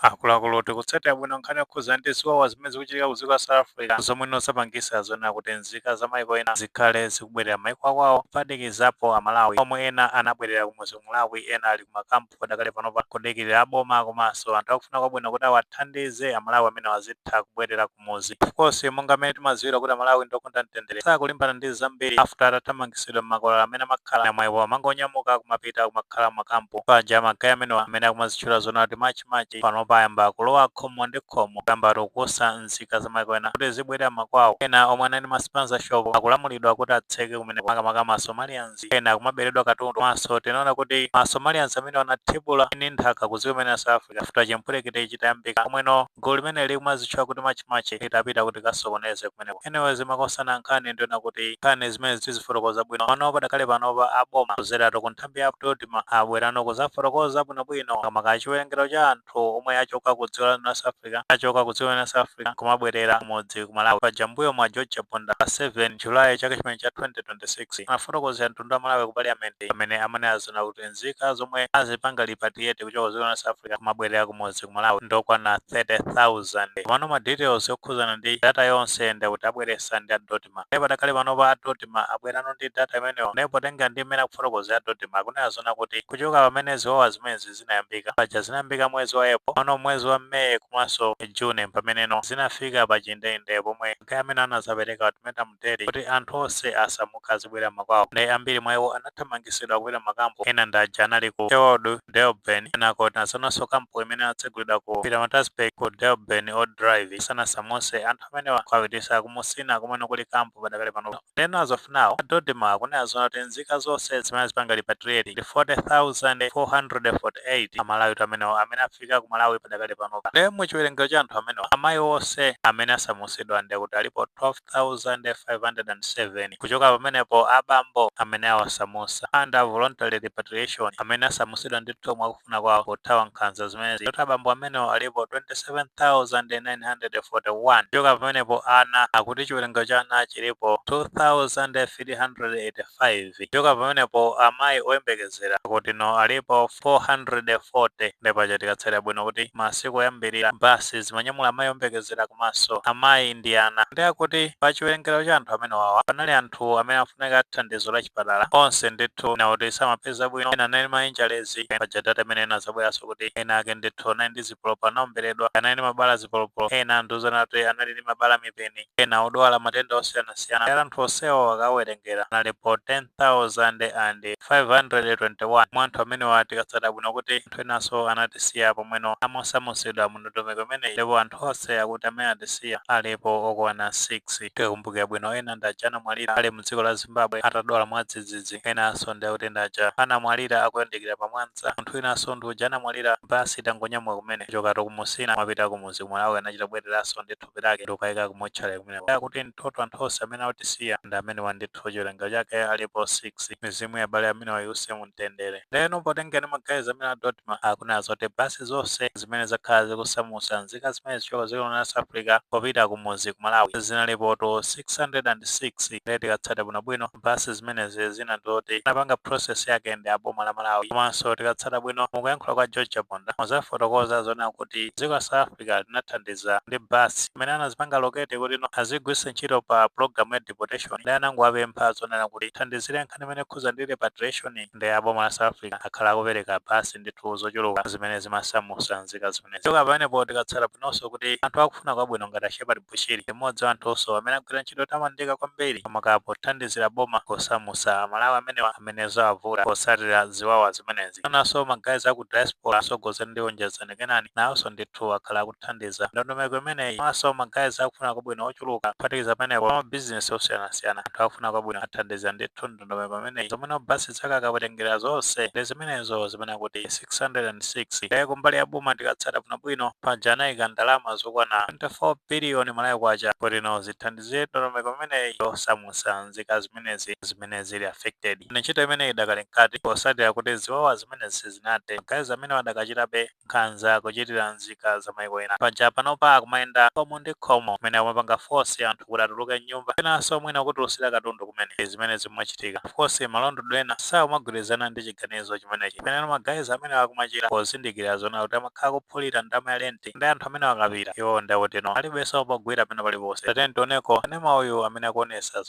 Akuluakulu tikutsatira bwino nkhani yokhudza ndi ziwawa zimene zikuchitika ku dziko la South Africa zomweno zapangisa zonena kuti nzika za maiko ena zikhale zikubwerera maiko akwawo kuphatikizapo amalawi omwe ena anabwerera kumudzi ku Malawi ena ali kumakampu padakali panopa kudikilira aboma komanso anthu akufuna kwabwino kuti awathandize amalawi amenewa azitha kubwerera kumudzi of course monga mmene timaziwira kuti amalawi ndiokonda mtendere sakulimbana ndi zambiri after atathamangisidwa mmakwalala amene amakhala ena mwa iwo amangonyamuka kumapita kumakhala mmakampu paja ma guy amenewa amene akumazitchula zona kuti March March panopa ayamba kulowa khomo ndi khomo kuyambatu kukusa nzika zamaiko ena kuti zibwerera makwawo ena omwe anali ma spaza shop akulamulidwa kuti atseke kumeneko makamaka ma somalians ena akumaberedwa katundu komanso tinaona kuti ma somalians amenewa anathibula ini nthaka ku dziko limeneli la south africa after chipwirikiti chitayambika pomweno Gulu limene likumazitchula kuti March March litapita kuti likasokoneze kumeneko. Anyways makosana nkhani ndi yonena kuti nkhani zimenezi tizifotokoza bwino pano padakali panopa a boma kudzeratu ku nthambi ya DoDMA abwerano kudzafotokoza bwinobwino kamba ka chiwerengero cha anthu omwe achoka ku dziko la South Africa achoka ku dziko la South Africa nkumabwerera kumudzi ku Malawi. Paja mmbuyomu a George Chaponda pa 7 July chaka chimene cha 2026 anafotokozera mtundu wa Malawi ku Parliament pamene amanena zona kuti nzika zomwe azipanga repatriate kuchoka dziko la South Africa kumabwerera kumudzi ku Malawi ndokwana 30,000 komano ma details okhuzana ndi data yonse ndi kuti abweresa ndi a Dodma ndipo padakali panopa a Dodma abwerano ndi data imeneyo ndipo potenga ndi mmene akufotokozera a Dodma akunena zona kuti kuchoka pamene ziwawa zimenezi zinayambika paja zinayambika mwezi wa April pano mwezi wa May komanso June pameneno zinafika pa chindeinde pomwe ma guy amenewa anazapereka ultimatum 30 kuti anthu onse asamuke azibwera makwawo nde ambiri mwa iwo anathamangitsidwa kupita mmakampu ena ndi aja anali ku Sherwood Durban kenako tinazaonanso kampu imene inatsegulidwa ku Pietermaritzburg ku Durban Old Drive sanasamutse anthu amenewa kuwapititsa ku Musina kumene kuli kampu padakali pano ndeno as of now a Dodma akunena zona kuti nzika zonse zimene azipanga repatriate ndi 40,448 amalawi amenewa amene afika ku malawi padakali pano nde mu chiwerengero cha anthu amenewa amayi onse amene asamutsidwa ndi kuti alipo 12 507. Kuchoka pamenepo, a bambo amene awasamusa, under voluntary repatriation, amene asamusidwa ndithu mwakufuna kwawo kuthawa nkhanza zimenezi, akuti abambo amenewo alipo 27,941. Kuchoka pamenepo ana, akuti chiwerengero cha ana chilipo 2,385. 5 kuchoka pamenepo amayi oyembekezera akutino alipo 440 nde paja tikatsatira bwino kuti masiku oyambirira ma bus zimanyamula amayi oyembekezera komanso amayi ndi ana nde akuti pa chiwerengero cha anthu amenewawa panali anthu amene amafunika thandizo la chipatala onse ndithu ena oti samapeza bwino ena anali ndi ma injuries paja data imene inazabweranso kuti ena ake ndithu anali ndi zipolopolo anaomberedwa anali ndi mabala a zipolopolo ena andiuzana kuti anali ndi mabala a mipeni ena odwala matenda osiyanasiyana amene anthu onsewo akawerengera analipo 10,521. Mwa anthu amenewa tikatsata bwino kuti anthu enanso anatisiya pomwe no amasamutsidwa mu ndondomeko imeneyi ndipo anthu onse akuti amene atisiya alipo okwana 6. Tikakumbukira bwino ena ndi aja anamwalira ali mu dziko la Zimbabwe atadwala mwadzidzidzi, enanso ndi akuti ndi aja anamwalira akuyandikira pa Mwanza, munthu winanso ndi uja anamwalira bus itangonyamuka kumene kuchokatu ku Musina kumapita ku mudzi ku Malawi anachita kubwereranso ndithu. thupi lake ndi kukaika ku motchale kumeneko akuti mu total anthu onse amene atisiya ndi amenewa ndithu chiwerengero chake alipo 6 mizimu ya abale amenewa iuse mu mtendere ndeno potengera ndi ma guys amenewa a dodma akunena zoti basi zonse zimene zakhala zikusamusa nzika zimenezi kuchoka dziko la south africa popita kumudzi ku malawi zinalipotu 606 ndiye tikatsata bwinobwino basi zimenezi zina ndizoti anapanga process yake ndi a boma la malawi komanso tikatsata bwino mukuyankhula kwa george chaponda muzafotokoza zonena kuti dziko la south africa Africa linathandiza ndi bus imene anazipanga allocate kuti no azigwiritsa ntchito pa program ya deportation ndi anangowapempha zonena kuti thandizire nkhani imene ikhuza ndi repatriation ndi aboma la South Africa akhala akupereka bus ndithu zochuluka zimene zimasamusa nzika zimenezi kuchoka pamenepo tikatsata bwinonso kuti anthu akufuna kwabwino ngati a Shepherd Bushiri ndi mmodzi wa anthunso amene agwira ntchito yotamandika kwambiri makamaka pothandizira boma posamusa Amalawi amenewa amene zawavuta potsatira ziwawa zimenezi. Enanso ma guys aku diaspora atsogozedwa ndi Onjezani Kenani nawonso ndithu akhala akuthandiza ndondomeko imeneyi komanso ma guys akufuna kwabwino ochuluka. Kuphatikiza pamenepo, a mabizinesi osiyanasiyana, anthu akufuna kwabwino athandiza ndithu. ndondomeko imeneyi zomwe no bus zake akawerengera zonse ndi zimenezo zimene akuti 606 kaye kumbali ya boma tikatsata bwinobwino paja anayika ndalama zokwana 24 biliyoni malawi kwacha kuti no zithandizire ndondomeko imeneyi yosamutsa nzika zimenezi zimene zili affected ntchito imeneyi idakali mkati posatira kuti ziwawa zimenezi sizinathe ma guys amenewa adakachitabe nkhanza kuchitira nzika za maiko ena. Paja panopa akumayenda khomo ndi khomo kumene akumapanga force anthu kuti atuluke m'nyumba penanso mwina kutulusira katundu kumene. Ndi zimene zikumachitika. Of course ma landlord ena sakumagwirizana ndi chiganizo chimenechi. Pena no ma guys amenewa akumachita pozindikira zonena kuti amakhala kuphulira ndalama ya lenti nde anthu amenewa akapita iwowo nde akuti no alibenso pogwira pena paliponse. Tatiyeni tioneko kanema uyu amene akuonetsa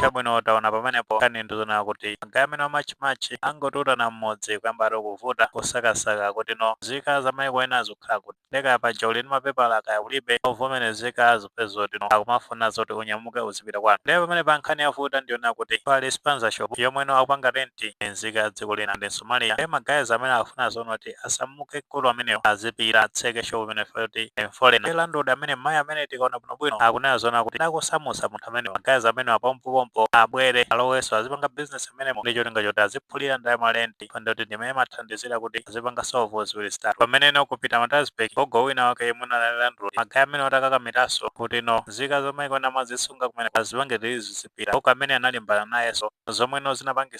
chabwino taona pamenepo nkhani ndizonena kuti ma guys amenewa a march and march angotutana mmudzi kuyamba ati kuvuta kusakasaka kuti no nzika za maiko ena zikukhala kuti nde kaya paja uli ndi mapepala kaya ulibe ovomerezeka zikupezeka zoti no akumafuna zoti unyamuke uzipita kwanu ndiye pamenepa nkhani yavuta ndiyonena kuti pali spaza shop yomwe no akupanga renti ndi nzika ya dziko lina ndi msomaliya ndiye ma guys amenewa akufuna zonena kuti asamuke mkulu ameneyo azipita atseke shop imene poti ndi forena ndiye landlord amene mayi amene tikaona bwino bwino akunena zona kuti atamusamutsa munthu amene ma guys amenewa pompo pompo abwere alowenso azipanga business amenemo ndi cholinga choti aziphulira ndalama lendi pa ndiye kuti ndi imene imathandizira kuti azipanga solve ziwiri zitatu pameneno kupita matasbek gogo wina wake yemwe anali landlord magayi amene atakakamiranso kuti no nzika za maiko ena amazisunga kumene azipange tilizi zizipita gogo amene analimbana nayenso zomweno zinapangisa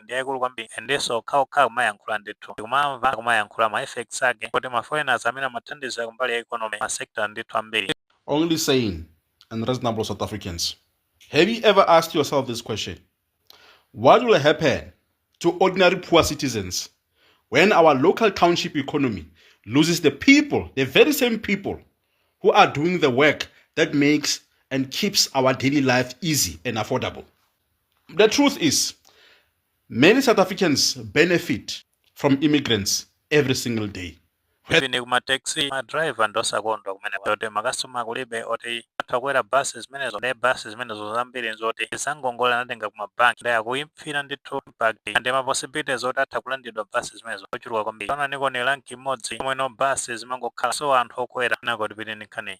ndi yaikulu kwambiri and enieninso okhaokha akumayankhula ndithu tikumamva akumayankhula ma effects ake kuti ma foreigners amene amathandiza kumbali ya economy ma sector ndithu ambiri only sane and reasonable South Africans. Have you ever asked yourself this question? What will happen to ordinary poor citizens when our local township economy loses the people, the very same people who are doing the work that makes and keeps our daily life easy and affordable? The truth is, many South Africans benefit from immigrants every single day. Even ku mataxi ma driver ndi osakondwa kumeneko kuti makasitoma kulibe oti atha kukwera bus zimenezo ndiye bus zimenezo zambiri nzoti ndi zangongole anatenga ku mabanki ndiye akuifila ndithu impact and ma possibilities oti atha kulandidwa bus zimenezo ochuluka kwambiri onani kuno ndi rank imodzi omweno bus zimangokhala so anthu okwera nako tipeni nkhani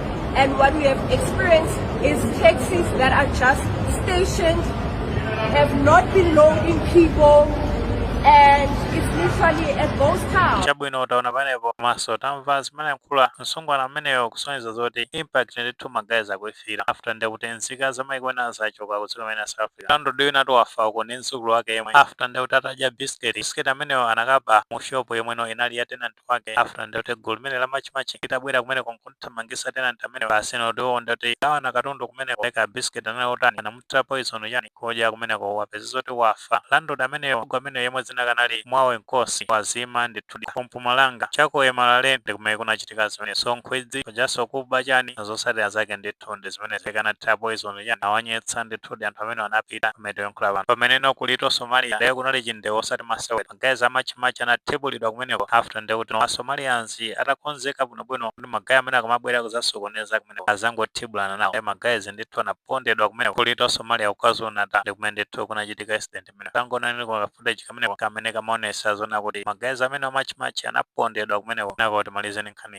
And what we have experienced is taxis that are just stationed, have not been loading people, and it's literally a ghost town. chabwino taona panepo komanso tamva zimene amalankhula msungwana ameneyo kusonyeza zoti impact ndithu magayizi akuifila after ndekuti nzika za maiko ena zachoka kudziko limene south africa landlord winatu wafa uko ndi mdzukulu wake yemwe after ndekuti atadya bisiketi bisiketi ameneyo anakamuba mu shopu yomweno inali ya tenant wake after ndekuti gulu limene la Match Match litabwera kumeneko n'kuthamangitsa tenanti ameneyo asano tiwo ndekuti agawana katundu kumeneko kaya bisiketi anali otani anamuthira poison chani kodya kumeneko wapeza zoti wafa landlord ameneyo gogo ameneyo yemwe dzina lake anali mwawe nkosi wazima ndithudi ku Mpumalanga chaku eMalahleni kumene kunachitika zimene so nkhwidzi komanso kuba chani zotsatira zake ndithu ndi zimene kaya anathira poison chani awanyetsa ndithudi anthu amenewa anapita mmene tikuyankhula pano pameneno ku Little Somalia lero kunali chindewo osati masewera magayizi amatchimatchi anathibulidwa kumeneko after ndiye kuti ma somalians atakonzeka bwinobwino kuti magayi amenewa akamabwera kuzasokoneza kumeneko azangothibulana nawo ndiye magayizi ndithu anapondedwa kumeneko ku Little Somalia kukwazulu natal ndi kumene ndithu kunachitika incident imene tangoonani ka footage kameneko kamene kamaonesa zona kuti magayizi amene amatchimatchi anapondedwa kumeneko nako timalize ni nkhani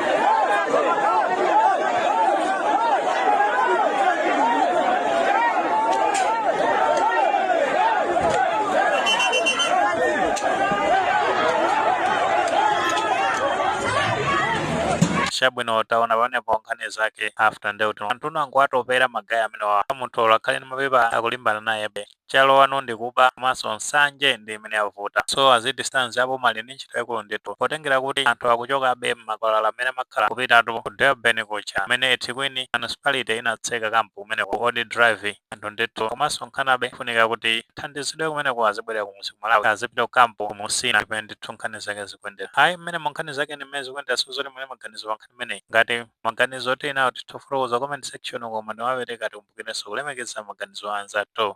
chabwino taona panepo nkhani zake after ndeuti anthu anangowatopera magayi amenewa munthu olo akhale ndi mapepa akulimbana naye be Chalowanu ndi kuba komanso nsanje ndi imene yavuta so as it stands aboma ali ndi ntchito yaikulu ndithu potengera kuti anthu akuchokabe m'makwalala mmene amakhala kupitatu ku Durban kuja kumene Ethekwini Municipality inatseka camp kumeneko Old Drive anthu ndithu kumasonkhanabe kufunika kuti athandizidwe kumeneko azibwerera kumuzi ku Malawi azipita ku camp ku Musina ndi pamene ndithu nkhani zake zikuyendera ayi mmenemu nkhani zake ndi mmene zikuyendera sizoti mulibe maganizo pa nkhani imeneyi ngati maganizo tili nawo titha kufotokoza comment section uko koma ndikamapereka tikumbukirenso kulemekeza maganizo a anzathu.